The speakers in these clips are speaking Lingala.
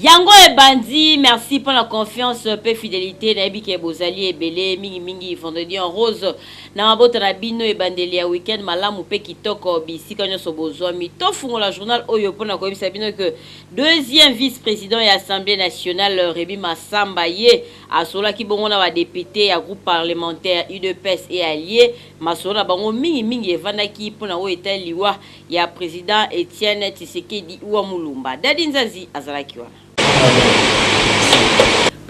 Yango ebandi merci pona confiance pe fidelite nayebi ke bozali ebele mingi mingi vendredi en rose na mabota na bino ebandeli ya week-end malamu pe kitoko bisika nionso bozwami tofungola journal oyo pona koyebisa bino ke deuxième vice president ya assemblee nationale Remy Massamba ye asololaki bongo na ba deputes ya groupe parlementaire udps et allies masolo na bango mingi mingi evandaki pona oyo etali liwa ya president Etienne Tshisekedi ua Mulumba. Daddy Nzanzi azalaki wana.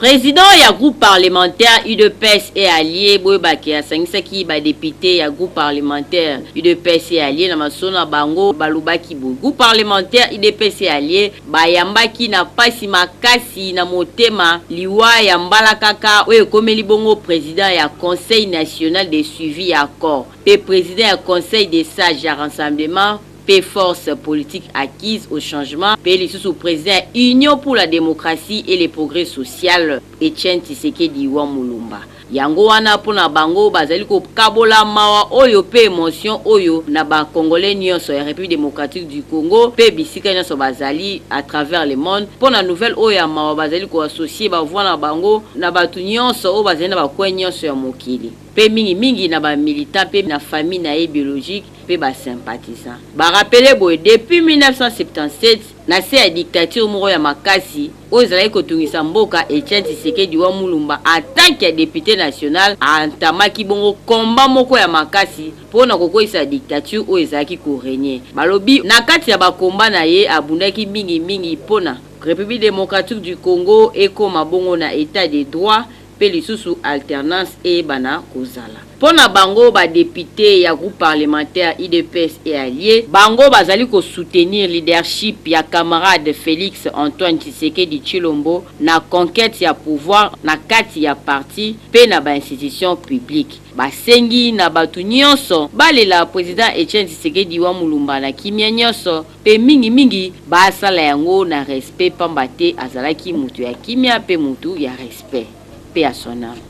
President ya groupe parlementaire udps et allies, boyeba ke asangisaki ba deputes ya groupe parlementaire udps et allies na masolo na bango, balobaki boye, groupe parlementaire udps et allies bayambaki na pasi makasi na motema liwa ya mbalakaka oyo ekomeli bongo president ya conseil national de suivi ya accord. mpe president ya Conseil des sages ya Rassemblement mpe Force politique acquise au changement mpe lisusu president ya Union pour la democratie et le progrès social, Etienne Tshisekedi wa Mulumba. Yango wana mpo na bango bazali kokabola mawa oyo mpe emotion oyo na ba Congolais nionso ya Republique democratique du Congo mpe bisika nionso bazali à travers le monde mpo na nouvelle oyo ya mawa bazali ko associer ba voix na bango na batu nionso oyo bazali na ba coins nionso ya mokili. mpe mingi mingi na ba militants mpe na famille na ye biologique mpe ba sympathisants. Ba rappeler boye, depuis 1977, na se ya dictature moko ya makasi oyo ezalaki kotungisa mboka, Etienne Tshisekedi wa Mulumba, en tant que depute national, a entamaki bongo combat moko ya makasi mpo na kokweisa dictature oyo ezalaki ko regner. Balobi, na kati ya ba combats na ye, abundaki mingi mingi mpo na. Republique democratique du Congo ekoma bongo na etat de droit. mpe lisusu alternance eyebana kozala. Mpo na bango ba deputes ya groupe parlementaire udps et allies, bango bazali ko soutenir leadership ya camarade Felix Antoine Tshisekedi Tshilombo na conquete ya pouvoir na kati ya parti mpe na ba institutions publiques. Basengi na bato nyonso balela president Etienne Tshisekedi wa Mulumba na kimya nyonso. mpe mingimingi basala yango na respe mpamba te azalaki moto ya kimia mpe moto ya respe. Paix à son ame.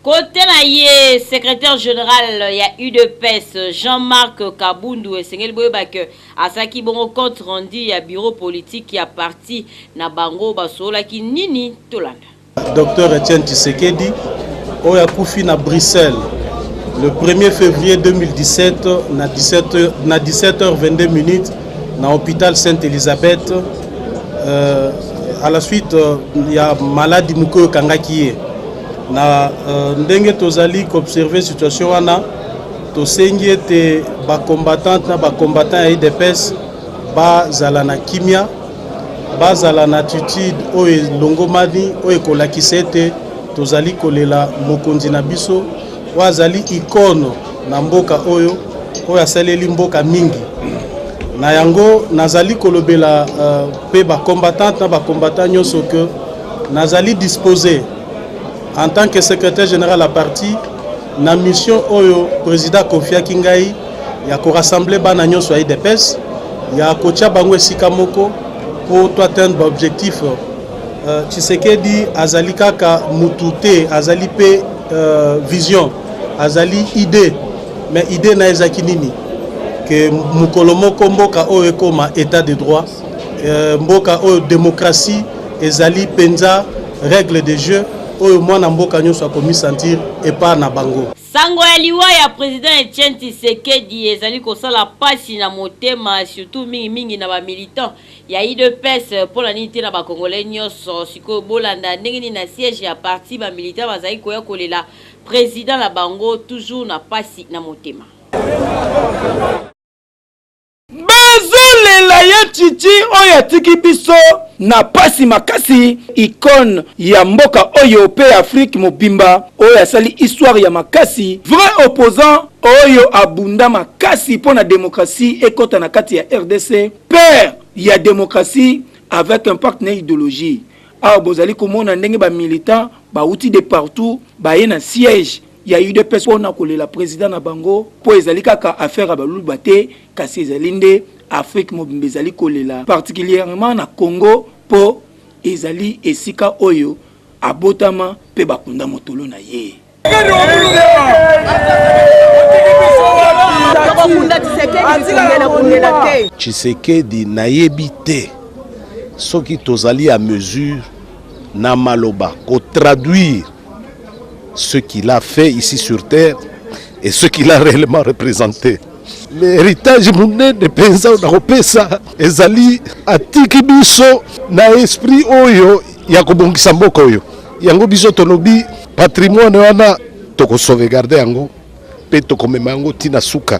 Cote na ye, secretaire general ya udps Jean Marc Kabundu esengeli boyeba que asalaki bongo compte rendu ya bureau politique ya parti na bango. Basololaki nini? Tolanda. Docteur Etienne Tshisekedi oyo akufi na Bruxelles le 1er février 2017 na 17h, na 17h22 minutes na hôpital Sainte Elisabeth euh, à la suite euh, ya maladi moko oyo ekangaki ye na euh, ndenge tozali koobserve situation wana tosengi ete bacombattante na bacombattant ya idps bazala na kimia bazala na attitude oyo elongomani oyo ekolakisa ete tozali kolela mokonzi na biso oyo azali ikono na mboka oyo oyo asaleli mboka mingi na yango nazali kolobela euh, mpe uh, bacombattante na bacombattant nyonso ke nazali dispose en tant que secrétaire général ya parti Na mission oyo president akofiaki ngai ya ko rassembler bana nyonso ya IDPS ya kotia bango esika moko mpo to atteindre baobjectif uh, Tshisekedi azali kaka mutu te azali mpe uh, vision azali idée mais idée na ezalaki nini ke mokolo moko mboka oyo ekoma état de droit uh, mboka oyo démocratie ezali mpenza règle de jeu oyo mwana mboka nyonso akomisentir epart na bango. Sango ya liwa ya president Etienne Tshisekedi ezali kosala pasi na motema surtout mingi mingi na ba militants ya UDPS mpo na nini te na ba congolais nyonso. Sikoyo bolanda ndenge nini na siège ya parti ba militants bazali koya kolela president na bango toujours na pasi na motema. bazolela ye chichi oyo atiki biso na pasi makasi icone ya mboka oyo mpe ya afrique mobimba oyo asali histoire ya makasi vrai opposant oyo abunda makasi mpo na demokratie ekota na kati ya rdc père ya demokratie avec impact na idologie awa bozali komona ndenge bamilitant bauti de partout baye na siège ya udps pona kolela president na bango po ezali kaka affaire ya baluba te kasi ezali nde afrique mobimba ezali kolela particulièrement na congo po ezali esika oyo abotama pe bakunda motolo na ye tshisekedi nayebi te soki tozali a mesure na maloba kotraduire ce qu'il a fait ici sur terre et ce qu'il a réellement représenté. héritage monene mpenza na kopesa ezali atiki biso na esprit oyo ya kobongisa mboka oyo yango biso tolobi patrimoine wana tokosauvegarde yango Pe tokomema yango ti na suka.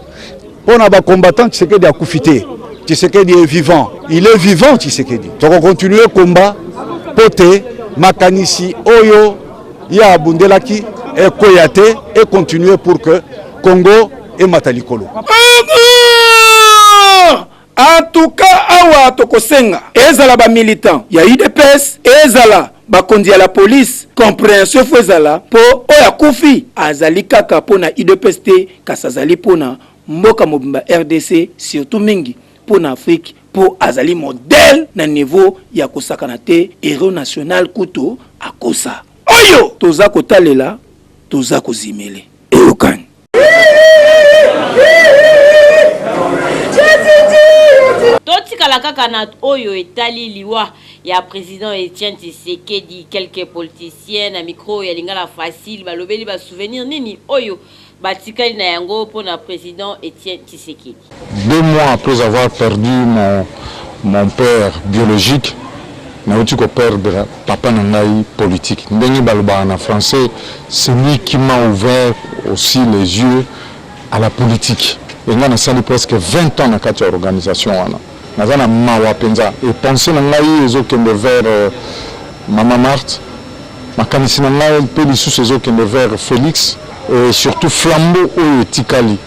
Pona ba combattants Tshisekedi akufi te. Tshisekedi est vivant. Il est vivant Tshisekedi. Toko continuer combat po te makanisi oyo ye abundelaki ekweya te et continuer pour que Congo emata likolo. En tout cas awa tokosenga ezala ba militants ya udps ezala bakonzi ya la police comprehension faut ezala po oyo akufi azali kaka pona udps te kasi azali pona mboka mobimba rdc surtout mingi pona Afrique po azali modèle na niveau ya kosakana te heros national kutu akosa oyo toza kotalela toza kozimele eyokani. totikala kaka na oyo etali liwa ya président Etienne Tshisekedi quelques politiciens na micro ya lingala facile balobeli ba souvenir nini oyo batikali na yango mpo na président Etienne Tshisekedi Deux mois après avoir perdu mon mon père biologique nawuti ko perdre papa na ngai politique ndenge balobaka na français celui qui m'a ouvert aussi les yeux à la politique et ngai nasali presque 20 ans na kati ya organisation wana naza na mawa penza et pensee na ngai ezo kende vers euh, mama Marthe makanisi na ngai mpe lisusu ezo kende vers Felix et surtout flambeau oyo etikali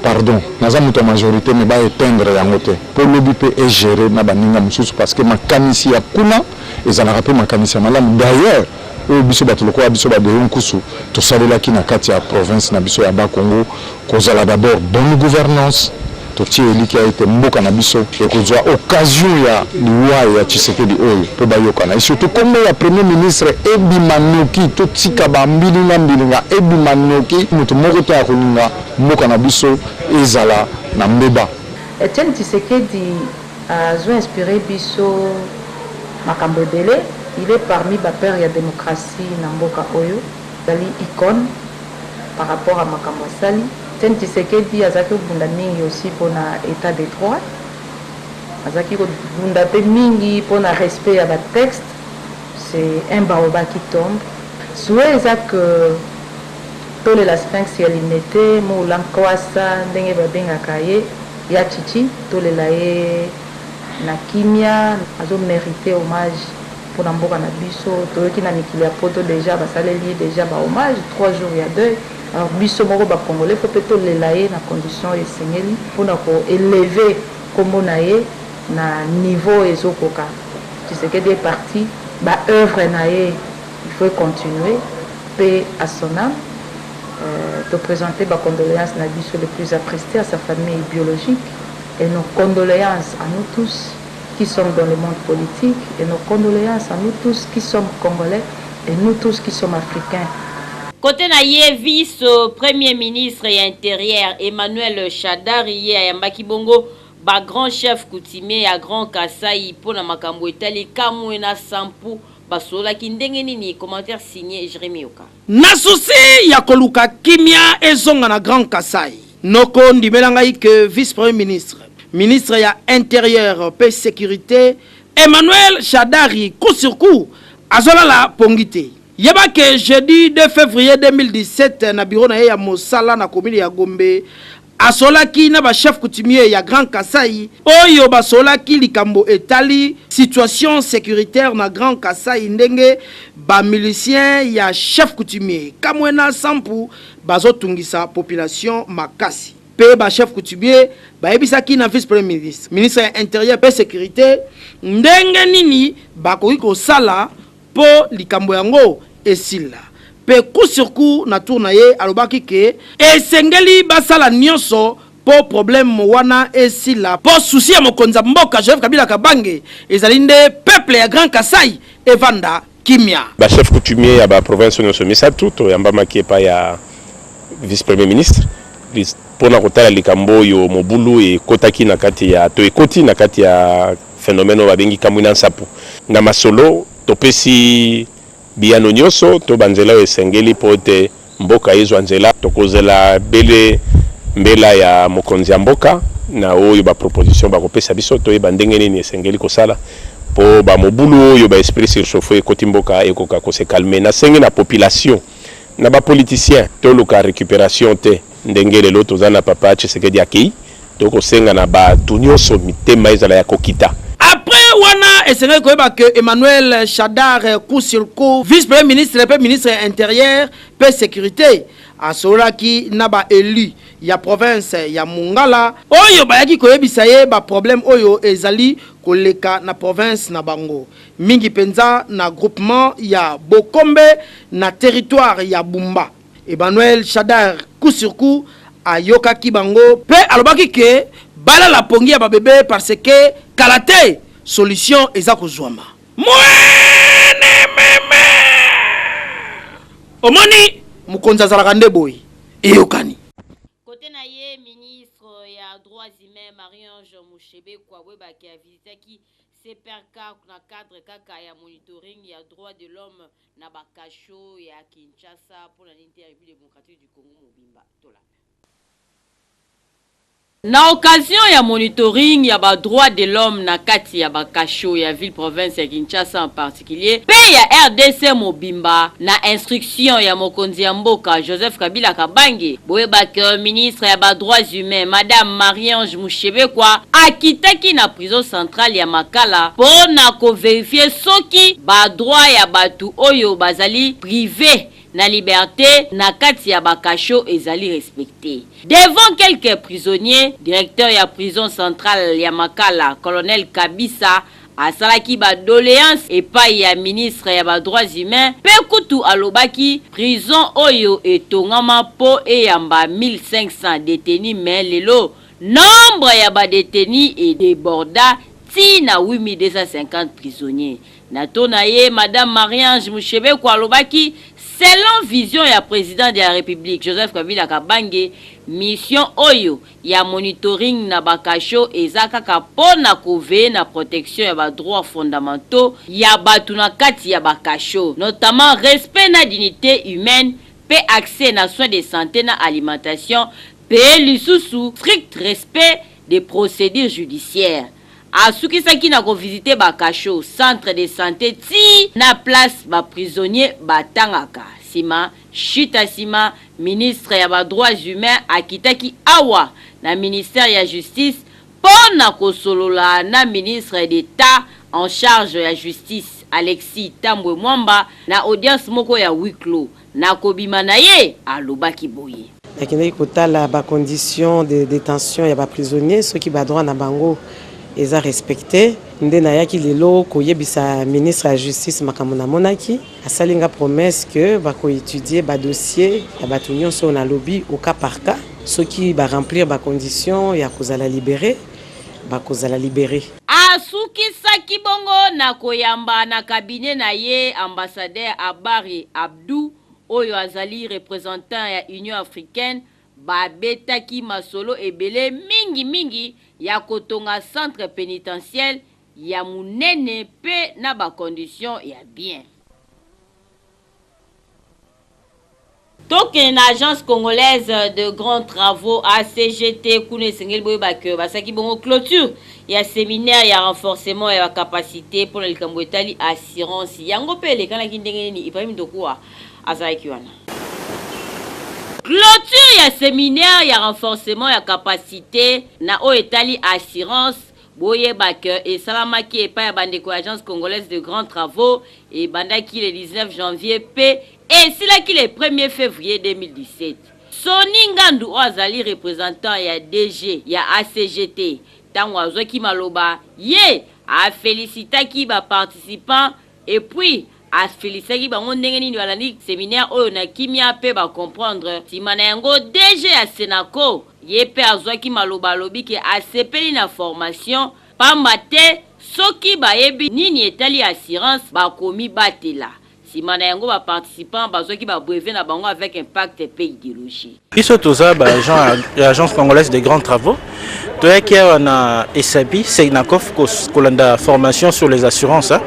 Pardon naza mutu ya majorite mais ba eteindre yango te po lobi pe e gerer na baninga mususu parce que makanisi ya kuna ezalaka pe makanisi ya malamu d'ailleurs oyo biso batu lokola biso ba Deo Nkusu tosalelaki na kati ya province na biso ya Bas Congo kozala d'abord bonne gouvernance totie elikia ete mboka na biso ekozua occasion ya Liwa ya Tshisekedi oyo po bayokana et surtout kombo ya premier ministre ebima noki, totika ba mbilinga mbilinga ebima noki, mutu moko te akolinga mboka na biso ezala na mbeba. Etienne Tshisekedi azo inspirer biso makambo ebele, il est parmi ba père ya democratie na mboka oyo, azali icone par rapport ya makambo asali. Etienne Tshisekedi azalaki kobunda mingi aussi pona etat de droit. Azalaki ko bunda pe mingi pona respect ya ba textes, c'est un baobab qui tombe, souhait eza que tolela Sphinx ya Limete, Mula Nkwasa ndenge ba bengaka ye, Ya Tshitshi tolela ye na kimia, azo meriter hommage pona mboka na biso, toyoki na mikili ya poto dejà basaleli ye dejà ba hommages, trois jours ya deuil. alors biso moko ba congolais faut pe to lela ye na condition oyo esengeli pona ko elever kombo na ye na niveau oyo ezo koka tshisekedi est parti ba oeuvres na ye il faut e continuer paix à son ame euh, to presenter ba condoleances na biso les plus attriste à sa famille biologique et nos condoleances à nous tous qui sommes dans le monde politique et nos condoleances à nous tous qui sommes congolais et nous tous qui sommes africains. Cote na ye, vice Premier ministre ya Interieur Emmanuel Shadary ye ayambaki bongo ba grands chefs coutumiers ya Grand Kasaï mpo na makambo etali Kamwena Sampu basololaki ndenge nini? Commentaire signe Jeremie Yoka. Na souci ya koluka kimia ezonga na Grand Kasaï, noko ndimela ngai que vice-premier ministre, ministre ya Interieur mpe securite, Emmanuel Shadary coup sur coup azolala pongi te. Yeba que jeudi 2 fevrier 2017 na bureau na ye ya mosala na commune ya Gombe, Asolaki na ba chefs coutumiers ya Grand Kasaï oyo basolaki likambo etali situation securitaire na Grand Kasaï ndenge ba miliciens ya chef coutumier Kamwena Sampu bazotungisa population makasi mpe ba chefs coutumiers bayebisaki na vice-premier ministre, ministre ya Interieur mpe securite ndenge nini bakoki kosala Po likambo yango esila. Pe coup sur coup na tour na ye alobaki que esengeli basala nionso po probleme wana esila po souci ya mokonzi ya mboka Joseph Kabila Kabange ezali nde peuple ya Grand Kasaï evanda kimia. Ba chefs coutumiers ya ba provinces nionso misatu toyambamaki epai ya Vice-Premier ministre pona kotala likambo oyo mobulu ekotaki na kati ya to ekoti na kati ya Phenomène oyo babengi Kamwina Nsapu. Na masolo, topesi biyano nyonso to banzela oyo esengeli mpo ete mboka ezwa nzela. Tokozela bele mbela ya mokonzi ya mboka na oyo ba propositions bakopesa biso, toyeba ndenge nini esengeli kosala mpo ba mobulu oyo ba esprits surchauffer ekoti mboka ekoka ko se calmer. Nasengi na population, na ba politiciens, toluka recuperation te. Ndenge lelo toza na papa Tshisekedi akeyi, toko senga na batu nionso mitema ezala ya kokita. Après wana esengaki koyeba que Emmanuel Shadary Kusilku, vice-Premier ministre mpe ministre ya Interieur mpe securite, asololaki na ba elus ya province ya Mongala, oyo bayaki koyebisa ye ba problèmes oyo ezali koleka na province na bango, mingi mpenza na groupement ya Bokombe na territoire ya Bumba. Emmanuel Shadary coup sur coup ayokaki bango mpe alobaki que balala pongi ya ba bebe parce que kala te solution eza kozuama. Mwennememe! Omoni? Mokonzi azalaka nde boye. Eyokani. Cote na ye, ministre ya Droits humains Marie-Ange Mushebekwa Bwebake a visitaki CPRK na cadre kaka ya monitoring ya droits de l'homme Na ba cachots ya Kinshasa pona nini te ya Republique Democratique du Congo mobimba tolanda. Na occasion ya monitoring ya ba droits de l'homme na kati ya ba cachots ya ville-province ya Kinshasa en particulier mpe ya rdc mobimba na instructions ya mokonzi ya mboka Joseph Kabila Kabange, boyeba que ministre ya ba droits humains, Madame Marie-Ange Mushebekwa, akitaki na. Maison centrale ya Makala mpo na ko verifier soki ba droits ya batu oyo bazali prives na liberte na kati ya ba cachots ezali respecter. Devant quelques prisonniers, directeur ya prison centrale ya Makala, Colonel Kabisa, asalaki ba doleances epayi ya ministre ya ba droits humains mpe kutu alobaki prison oyo etongama mpo eyamba 1500 detenus mais lelo Nombre ya ba detenus e deborda ti na 8250 prisonniers. Na tour na ye, Madame Marie-Ange Mushebekwa alobaki, Selon vision ya President de la Republique, Joseph Kabila Kabange, mission oyo ya monitoring na ba cachots eza kaka mpo na ko veiller na protection ya ba droits fondamentaux ya bato na kati ya ba cachots, notamment respect na dignite humaine mpe accès na soins de sante na alimentation, Mpe lisusu strict respect des procedures judiciaires. Asukisaki na ko visiter ba cachots, centres de sante tii na place ba prisonniers batangaka. Sima, chute à sima, ministre ya ba droits humains akitaki awa na ministère ya Justice mpo na kosolola na ministre d'Etat en charge ya Justice, Alexis Thambwe Mwamba, na audience moko ya huis clos. Nakobima na ye, alobaki boye. Nakendeki kotala ba conditions de detention ya ba prisonniers, soki ba droits na bango eza respecter. Nde nayaki lelo koyebisa ministre ya Justice makambo namonaki. Asali nga promesse que ba ko etudier ba dossiers ya batu nionso oyo nalobi au cas par cas. Soki ba remplir ba conditions ya kozala liberer, bakozala liberer. Asukisaki bongo na koyamba na cabinet na ye ambassadeur Abary Abdou, oyo azali representant ya Union africaine, babetaki masolo ebele, mingi mingi ya kotonga centre penitentiel ya munene mpe na ba conditions ya bien. Tokende na Agence congolaise de grands travaux ACGT, kuna esengeli boyeba que basaki bongo cloture ya seminaire ya renforcement ya ba capacites mpo na likambo etali assurance. Yango mpe elekanaki ndenge nini? Ibrahim Dokua azalaki wana. Cloture ya seminaire ya renforcement ya capacites na oyo etali assurance Boyeba que esalamaki epai ya bandeko ya Agence congolaise de grands travaux, ebandaki le 19 janvier mpe esilaki le premier fevrier 2017. Sonny Ngandu oyo azali representant ya DG ya ACGT, tango azwaki maloba, ye a felicitaki ba participants Et puis, a felicitaki bango ndenge nini balandi seminaire oyo na kimia mpe ba comprendre. Sima na yango, DG ya Senaco ye mpe azuaki maloba alobi ke asepeli na formation pamba te soki bayebi nini etali assurance bakomibatela. Sima na yango ba participants bazuaki ba brevets na bango avec impact mpe ideologie. biso toza ba agent ya agence congolaise de grands travaux toyaki awa na esabi seinacof kolanda formation sur les assurances hein.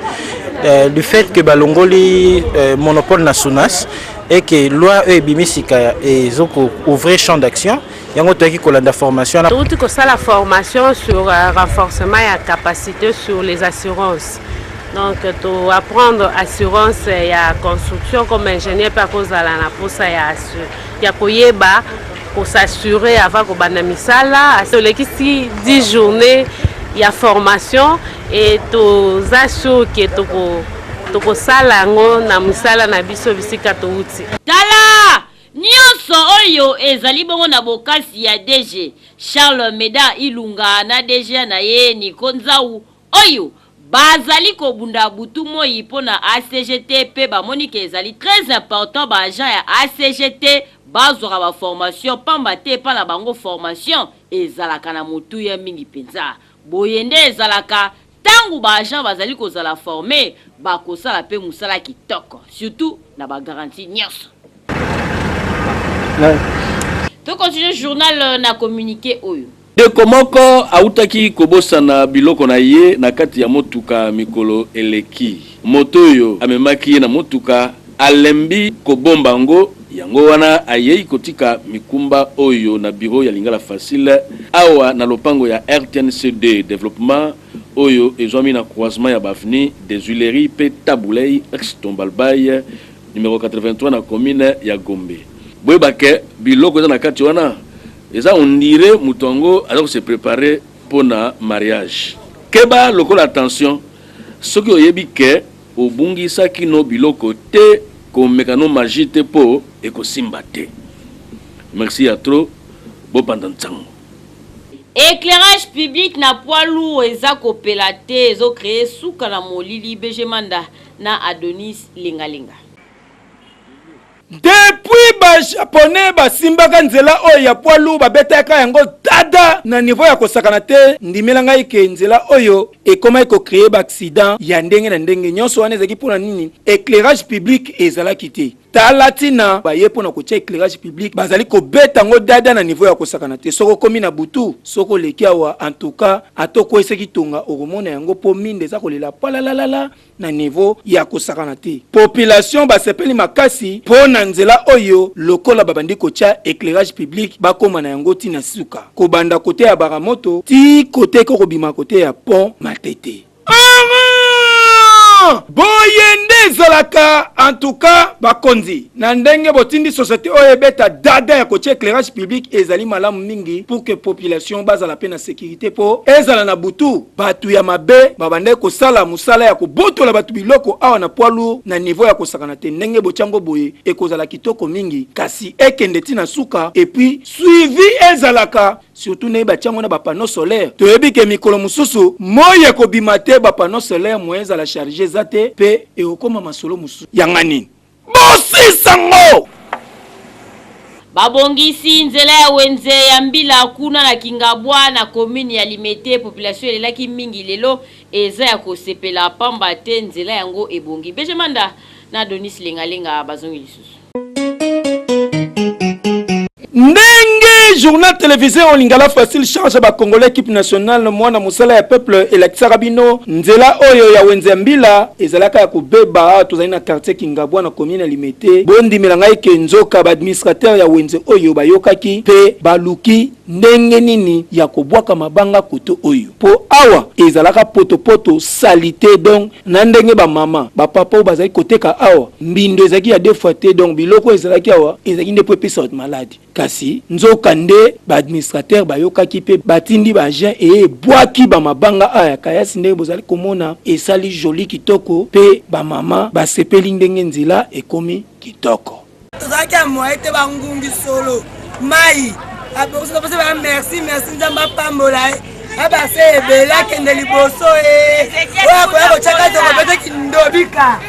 euh, du fait que balongoli euh, monopole na sunas et que loi oyo ebimi sika ezokouvrir champ d'action yango toyaki kolanda formation touti kosala formation sur euh, renforcement ya capacité sur les assurances donc to apprendre assurance ya construction comme ingénieur mpe akozala na mposa ya assurance ya koyeba ko s'assurer avant kobanda misala tolekisi 10 journée ya formation et toza sur ke toko tokosala yango na misala na biso bisika touti tala nyonso oyo ezali bongo na bokasi ya dg charles meda ilunga na dg na ye niko nzau oyo bazali kobunda butu moyi mpo na ACGT mpe bamoni que ezali très important ba agents ya ACGT bazwaka ba formations pamba te epai na bango formation ezalaka na motuya mingi mpenza. Boye nde ezalaka tango ba agents bazali kozala former, bakosala mpe mosala kitoko surtout na ba garanties nionso. To continuer journal na communique oyo. Ndeko moko autaki kobosana biloko na ye na kati ya motuka mikolo eleki. Moto oyo amemaki ye na motuka alembi kobomba yango, yango wana ayei kotika mikumba oyo na biro ya Lingala Facile, awa na lopango ya rtnc2 Developpement, oyo ezwami na croisement ya ba avenues des Huileries mpe Tabu Ley, ex Tombalbay, numero 83 na commune ya Gombe. Boyeba que biloko eza na kati wana. Eza on dirait mutu yango aza ko se preparer pona mariage. Keba lokola tension soki oyebi que obungisaki no biloko te komeka no magie te po ekosimba te. Merci ya trop bo panza nsango. Eclairage public na poids lourd eza kopela te ezo cree suka na molili BG Manda na Adonis lenga lenga. Depuis ba japonais basimbaka nzela oyo ya poids lourd babetaka yango dada na niveau ya kosakana te, ndimela ngai ke nzela oyo ekomaki ko creer ba accident ya ndenge na ndenge. Nyonso wana ezalaki mpo na nini? Eclairage public ezalaki te. Tala tina baye mpo na kotia eclairage public bazali kobeta yango dada na niveau ya kosakana te. Soki okomi na butu, soki oleki awa, en tout cas ata okweyisaki tonga okomona yango mpo minda eza kolela palalalala. na niveau ya kosakana te. Population basepeli makasi mpo na nzela oyo lokola babandi kotya eclairage public bakoma na yango ti na suka, kobanda kote ya bara moto ti kote eko kobima kote ya pont Matete. Boye nde ezalaka en tout cas bakonzi na ndenge botindi société oyo ebeta dada ya kotia éclairage public ezali malamu mingi pour que population bazala pe na sécurité po ezala na butu Bato ya mabe babandaki kosala mosala ya kobotola bato biloko awa na poids lourd na niveau ya kosakana te. Ndenge botia yango boye ekozala kitoko mingi kasi ekende ti na suka et puis suivi ezalaka surtout ndenge batia yango na ba panneaux solaires. Toyebi ke mikolo mosusu moi ekobima te ba panneaux solaires moyen ezala charger eza te pe ekokoma masolo mosusu. Yanga nini? Bosisa ngo! Babongisi nzela ya wenze ya mbila kuna na Kingabwa na commune ya Limete population elelaki mingi lelo eza ya kosepela pamba te nzela yango ebongi. BG Manda na Donis Lenga Lenga bazongi lisusu. Ndenge journal televisee en lingala facile change ba congolais equipe nationale mwana mosala ya peuple elakisaka bino nzela oyo ya wenze ya mbila ezalaka ya kobeba awa tozali na quartier kingabwa na commune ya limete bondimela ngai ke nzoka ba administrateur ya wenze oyo bayokaki pe baluki ndenge nini ya kobwaka mabanga kote oyo po awa ezalaka potopoto salite donc Na ndenge ba mama, ba papa oyo bazalaki koteka awa, mbindo ezalaki ya deux fois te, donc biloko oyo ezalaki awa ezalaki nde mpo epesa bato maladi. Kasi, nzoka nde, ba administrateurs bayokaki mpe batindi ba agents eye ebwaki ba mabanga awa ya Kayasi ndenge bozali komona, esali jolie kitoko mpe ba mama basepeli ndenge nzela ekomi kitoko. tozalaki ya moye te bangungi solo mai abongisi kopesa ba merci merci nzambe apambola ye abase ebele akende liboso e oyo akoya kotyaka tokopete kindobika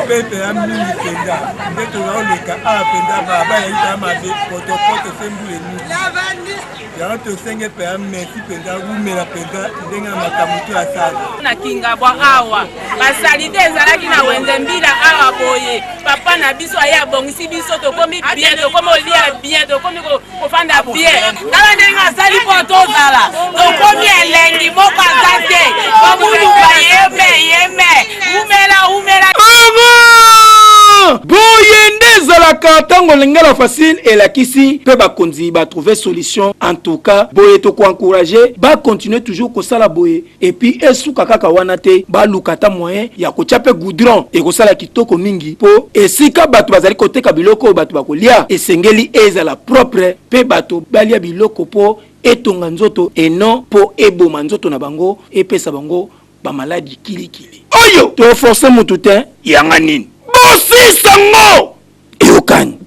pepe ya mingi mpenza nde tonaoleka awa mpenza baba yaita mabe potopoto se mbula enini yango tosenge mpenza mesi mpenza wumela mpenza ndenge na makambo to asala na kingabwa awa basalite ezalaki na wenze mbila awa boye papa na biso aye abongisi biso tokomi bien tokomi olia bien tokomi kofanda bien tala ndenge asali mpo tozala tokomi elengi moko aza te komuluka yeme yeme umela umela Bravo! boye nde ezalaka ntango lingala facile elakisi mpe bakonzi batrouve solution en tout cas boye tokoencourage bakontinue toujours kosala boye epuis esuka kaka wana te baluka ata moyen ya kotya mpe goudron ekosala kitoko mingi mpo esika bato bazali koteka biloko oyo bato bakolya esengeli ezala propre mpe bato balya biloko mpo etonga nzoto et non mpo eboma nzoto na bango epesa bango ba maladi kilikili oyo toforce mutu te yanga nini bosisa ngo eyokani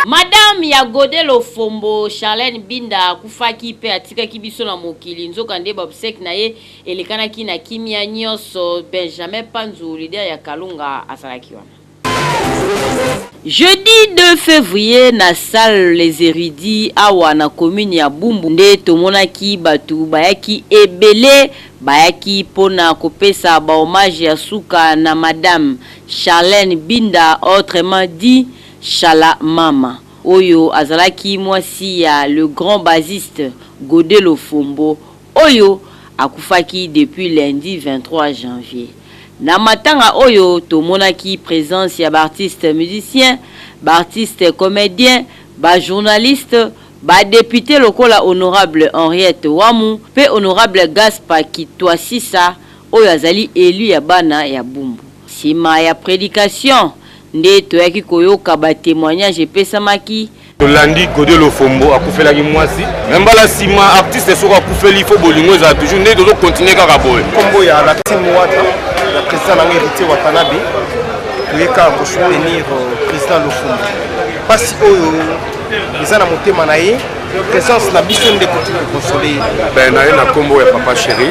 madame ya gode lofombo charlene binda akufaki mpe atikaki biso na mokili nzoka nde babsek na ye elekanaki na kimia nyonso benjamin panzu lider ya kalunga azalaki wana Jeudi 2 fevrier na salle Les Erudits awa na commune ya Bumbu nde tomonaki batu bayaki ebele, bayaki mpo na kopesa ba hommages ya suka na Madame Charlène Binda autrement dit Shala Mama, oyo azalaki mwasi ya le grand bassiste Gode Lofombo. oyo akufaki depuis lundi 23 janvier na matanga oyo tomonaki presence ya b'artistes musiciens, b'artistes comediens, ba journalistes, ba deputes lokola honorable Henriette Wamu mpe honorable Gaspa Kitwasisa oyo azali elu ya bana ya Bumbu. Sima ya predication nde toyaki koyoka ba temoignages epesamaki tolandi gode lofombo akufelaki mwasi me mbala nsima artiste soko akufeli fo bolingo ezala toujours nde tozokontinue kaka boye nkombo ya latin wata ya président nanga héritier watanabe toyeka kosoutenir euh, président lofombo mpasi oyo eza na motema na ye présence na biso nde koti kokonsole ye ben na ye na nkombo ya papa chéri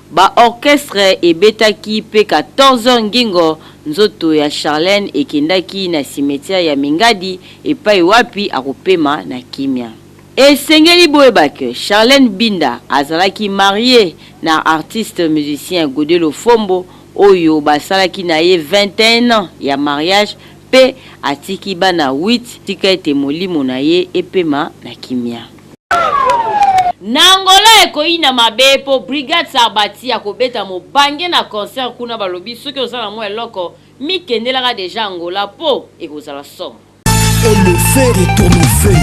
Ba orchestres ebetaki pe 14 heures ngingo, nzoto ya Charlène ekendaki na cimetière ya Mingadi epayi wapi akopema na kimia. Esengeli boyeba que Charlène Binda azalaki mariee na artiste musicien Gode Lofombo oyo basalaki na ye 21 ans ya mariage pe atiki bana huit, tika ete molimo na ye epema na kimia. Na Angola ekoyina mabe po Brigade Sarbati akobeta mobange na concert kuna balobi soki oza na mwa eloko mikendelaka dejà Angola po ekozala somo. Et le feu retourne au feu.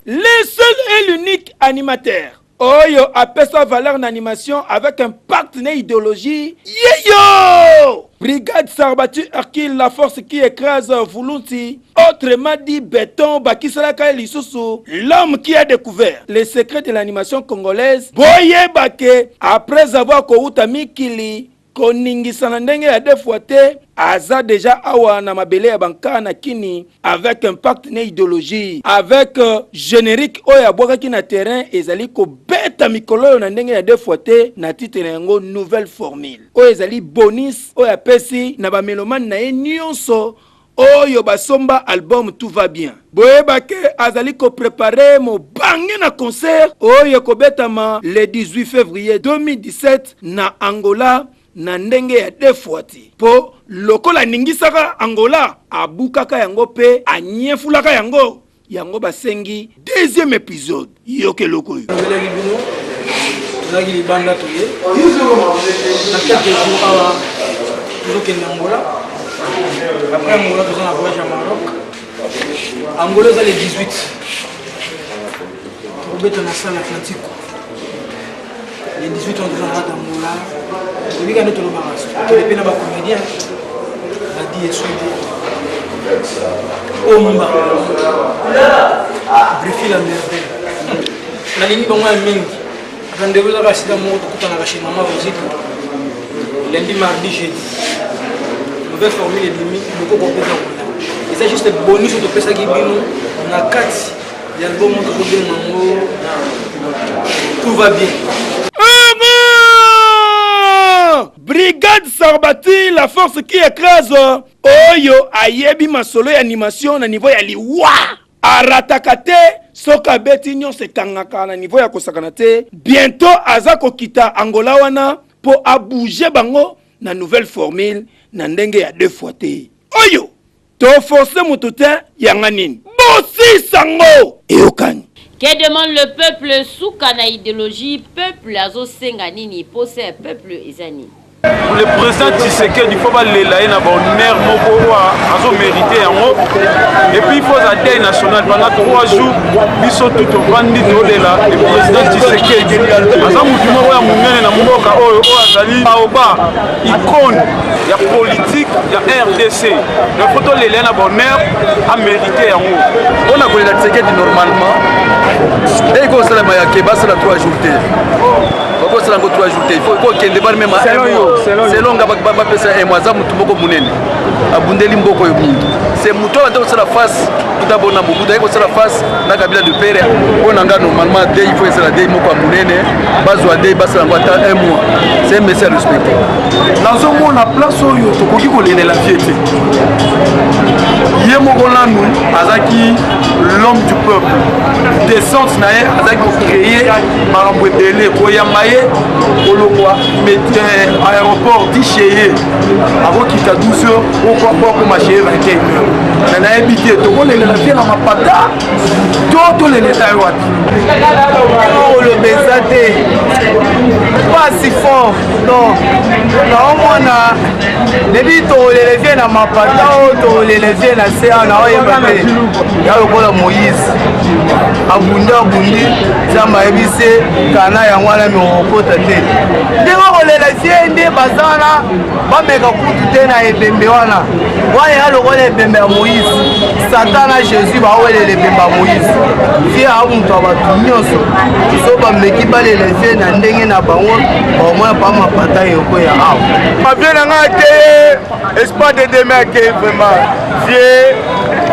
Le seul et l'unique animateur. Oyo apesa valeur na animation avec impact na ideologie. Yeyo! Brigade Sarbatu Hercule, la force qui écrase Vulunsi, autrement dit béton, bakisalaka lisusu, l'homme qui a découvert les secrets de l'animation congolaise, boyeba que après avoir kowuta mikili, koningisa na ndenge ya deux fois te aza deja awa na mabele ya banka na kini avec impact na ideologie avec euh, generique oyo abwakaki na terrain ezali kobeta mikolo oyo na ndenge ya deux fois te na titre na yango nouvelle formule oyo ezali bonus oyo apesi na bamelomane na ye nyonso oyo basomba album tout va bien boyeba ke azali ko prepare mobange na concert oyo ekobetama le 18 fevrier 2017 na angola na ndenge ya defuati mpo lokola aningisaka angola abukaka yango mpe anyefulaka yango yango basengi deuxième episode yoka eloko oyo nabelaki bino tozalaki libanda toye na quelques jours awa tozokende angola après angola toza na voyage ya maroc angola eza le 18 tokobeta na salle atlantique les 18 ans toza na tambola toyebi kani tolobaka tokende mpe na bacomédien badi esudi omba brifi la merveille nalingi bango ya mingi ata ndeko ezaka sida moko tokutanaka chez mama rosita lundi mardi jeudi nouvelle formule ebimi bokoko mpenza kola eza juste bonus topesaki bino na kati Yango moto kobenga ngo tout va bien. Brigade Sarbati, la force qui écrase oyo ayebi masolo ya animation na niveau ya liwa arataka te soki abeti nyonso ekangaka na niveau ya kosakana te bientôt aza kokita angola wana mpo abouge bango na nouvelle formule na ndenge ya deux fois te oyo To force mutu te yanga nini. Bosisa ngo eyokani. Que demande le peuple suka na ideologie peuple azo senga nini posa ya peuple eza nini. Le president Tshisekedi faut balela ye na ba honneur moko oyo azo merite yango et puis faut aza deuil national pendant 3 jours biso tout ovandi tolela le president Tshisekedi aza motu moko ya monene na mboka oyo oyo azali baoba icone ya politique ya rdc donc po tolelela na bonheur amérite yango mpo na kolela tisekedi normalement eyi kosalama ya ke basala 3 jours te bakosala yango 3 jours te il faut kokende bari meme selon nga bapesa emo aza motu moko monene abundeli mboko oyo mingi se moto oyo ande kosala face kuta bona mobutu aye kosala face na kabila de pere mpo na nga normalement dei mpo ezala dei moko ya monene bazwa dei basala yango ata un mois se un mesi ya respecte nazomona place oyo tokoki kolelela vie te ye moko nanu azalaki l'homme du peuple descente na ye azalaki kocreye makambo ebele koyamba ye kolongwa euh, aéroport disheye akokita 12 heures okwakwa akoma chez 21 heures na nayebi te tokolelela te na mapata to toleleta ye wapi oloba eza te pasi fort donc naomona nebi tokolela vie na mapata o tokolela vie na se awa naoyeba te ya lokola moïse abundi abundi nzambe ayebi se kana yango wana me okokota te ndenge okolela sie nde baza wana bameka kutu te na ebembe wana wana ya lokola ebembe ya moïse satan na jésus bawelela ebembe ya moïse sie aa moto ya bato nyonso so bameki balela sie na ndenge na bango baomoya pa mapata yoko ya awa mavie na ngai akeye espoir de deme akeye vraiment sie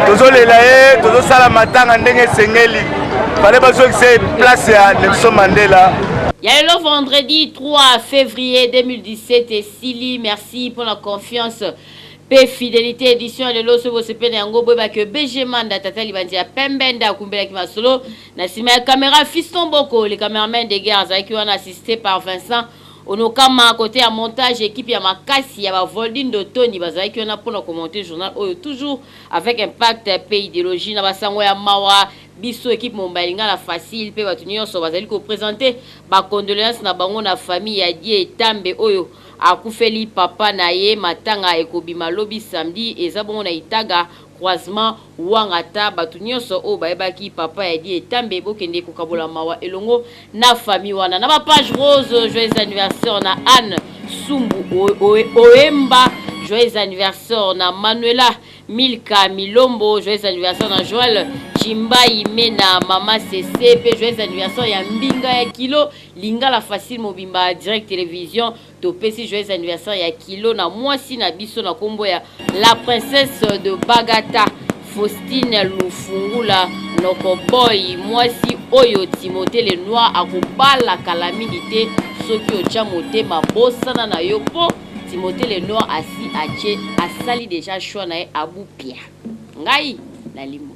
tozolela ye tozosala matanga ndenge esengeli fale bazongisa ye place ya nelson mandela ya lelo vendredi 3 février 2017 esili merci mpo na confiance mpe fidelité édition ya lelo soki bosepeli na yango boyeba ke bg manda tata libandi ya pembe nde akumbelaki masolo na nsima ya camera fiston boko le cameraman de guerre azalaki wana assisté par vincent onokama kote ya montage ekipe ya makasi ya bavoldindo tony bazalaki wana mpo na komonte journal oyo toujours Avec impact pe ideologie na ba sango ya mawa, biso equipe Mombaye Lingala Facile pe batu nionso bazali ko presenter ba condoleances na bango na famille ya Die Tambe oyo akufeli papa na ye. Matanga ekobima lobi samedi eza bongo na Itaga, croisement Wangata. Batu nionso oyo bayebaki papa ya Die Tambe bokende kokabola mawa elongo na famille wana na ba page rose joyeux anniversaire na Anne Sumbu Oemba joyeux anniversaire na Manuela Milka Milombo joyeux anniversaire na Joël Chimbayi Mena Mama Sese pe joyeux anniversaire ya Mbinga ya Kilo Lingala Facile Mobimba Direct Télévision Topesi joyeux anniversaire ya kilo na mwasi na biso na kombo ya la princesse de Bagata Faustine Lufungula noko boy mwasi oyo Timothée le noir akobala kala mingi te soki otya motema bosana na yo mpo Timothée le noir asi atie asali deja choix na ye abupia ngai nalimwe